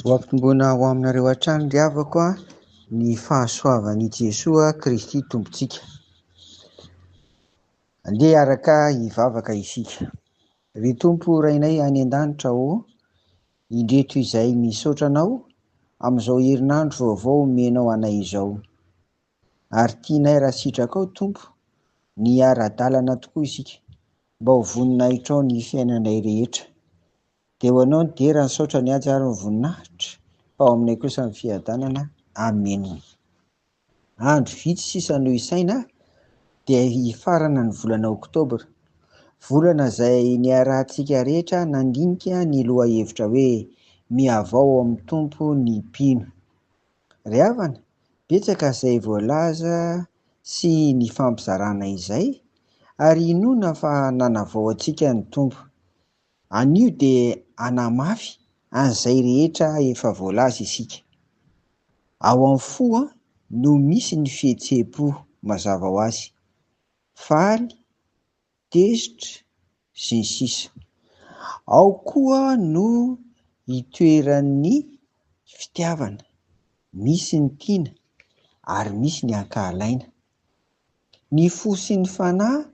Ho ampitomboina ho aminareo hatrany ry havako ny fahasoavan'i Jesoa Kristy Tompontsika. Andeha araka hivavaka isika. Ry Tompo Rainay any an-danitra ô, indreto izay misaotra Anao amin'izao herinandro vaovao omenao anay izao. Ary tianay raha sitrakao Tompo ny hiara-dalana tokoa isika mba ho voninahitrao ny fiainanay rehetra. Dia ho anao ny dera, ny saotra, ny haja ary ny voninahitra fa ao aminay kosa ny fiadanana. Amena. Andro vitsy sisa no hisaina dia hifarana ny volana oktobra. Volana izay niarahantsika rehetra nandinika ny lohahevitra hoe Mihavao ao amin'ny Tompo ny mpino. Ry havana, betsaka izay voalaza sy nifampizarana izay, ary inoana fa nanavao antsika ny Tompo. Anio dia hanamafy an'izay rehetra efa voalaza isika. Ao amin'ny fo no misy ny fihetseham-po mazava ho azy. Faly tezitra, sy ny sisa Ao koa no itoeran'ny fitiavana, misy ny tiana ary misy ny ankahalaina. Ny fo sy ny fanahy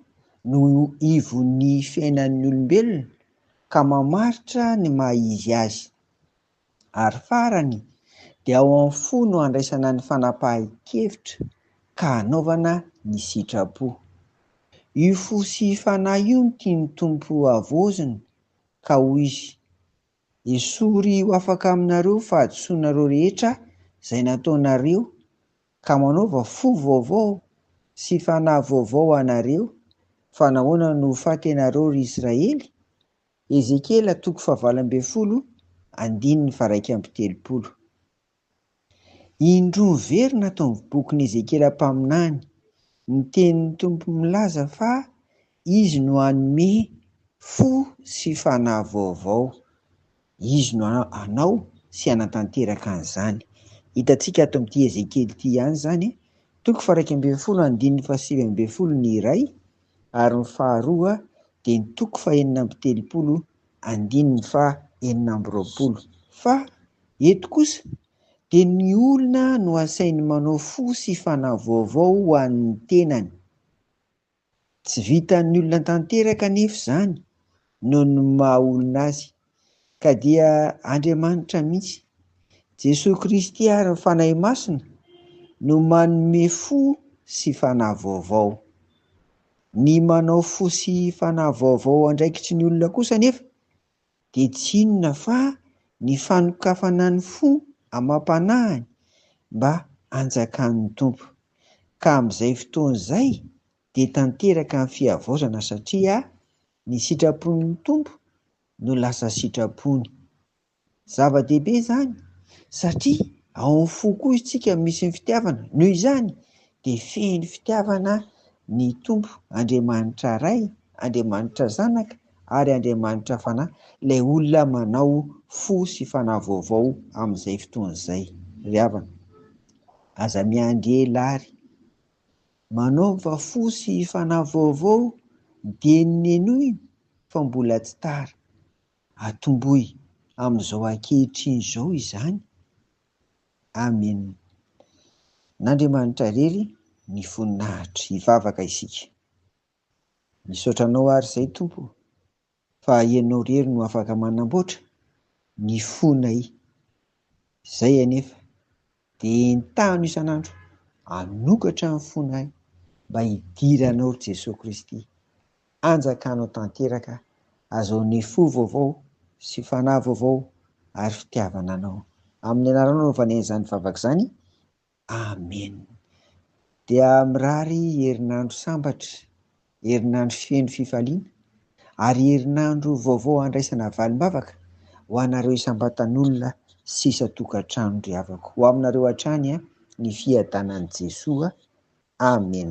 no ivon'ny fiainan'ny olombelona ka mamaritra ny maha-izy azy. ary farany dia ao amin'ny fo no andraisana ny fanapahan-kevitra ka anaovana ny sitrapo. Io fo sy fanahy io no tian'ny Tompo hohavaozina, ka hoy Izy, Esory ho afaka aminareo fahadisoanareo rehetra izay nataonareo, ka manaova fo vaovao sy fanahy vaovao ho anareo, fa nahoana no ho faty ianareo, ry Israely? Ezekiela toko fahavalo ambin'ny folo andininy faharaika amby telopolo Indroa miverina ato amin'ny bokin'i Ezekiela mpaminany ny tenin'ny Tompo milaza fa Izy no hanome fo sy fanahy vaovao. Izy no hanao sy hanatanteraka an'izany. Hitantsika ato amin'ity Ezekiela ity ihany izany, toko faharaika ambin'ny folo andininy fahasivy ambin'ny folo ny iray ary ny faharoa dia ny toko fahenina amby telopolo andininy faha enina amby roapolo fa eto kosa dia ny olona no asainy manao fo sy fanahy vaovao ho an'ny tenany. Tsy vitan'ny olona tanteraka anefa izany noho ny maha olona azy ka dia Andriamanitra mihitsy. Jesoa Kristy ary ny Fanahy Masina no manome fo sy fanahy vaovao. Ny manao fo sy fanahy vaovao andraikitry ny olona kosa anefa dia tsy inona fa ny fanokafana ny fo amam-panahiny mba hanjakan'ny Tompo. Ka amin'izay fotoana izay dia tanteraka ny fihavaozana satria Ny sitrapon'ny Tompo no lasa sitrapony. Zava-dehibe izany satria ao amin'ny fo koa isika misy ny fitiavana, noho izany dia feno fitiavana ny Tompo, Andriamanitra Ray, Andriamanitra Zanaka ary Andriamanitra Fanahy, ilay olona manao fo sy fanahy vaovao amin'izay fotoana izay. Ry havana, aza miandry ela àry. Manaova fo sy fanahy vaovao dieny nenoina fa mbola tsy tara. Atomboy amin'izao ankehitriny izao izany. Amen. N'Andriamanitra irery ny voninahitra. Hivavaka isika. Misaotra anao ary izay Tompo fa ianao irery no afaka manamboatra ny fonay izay anefa dia entahano isan'andro hanokatra ny fonay mba hidiranao ry Jesoa Kristy hanjakanao tanteraka azaonay fo vaovao sy fanahy vaovao ary fitiavana anao amin'ny anaranao no nivanian'izany vavaka izany Amen! Dia mirary herinandro sambatra, herinandro feno fifaliana ary herinandro vaovao handraisana valim-bavaka ho anareo isam-batan'olona sy isan-tokantrano ry havako. Ho aminareo hatrany ny fiadanan'i Jesoa. Amen!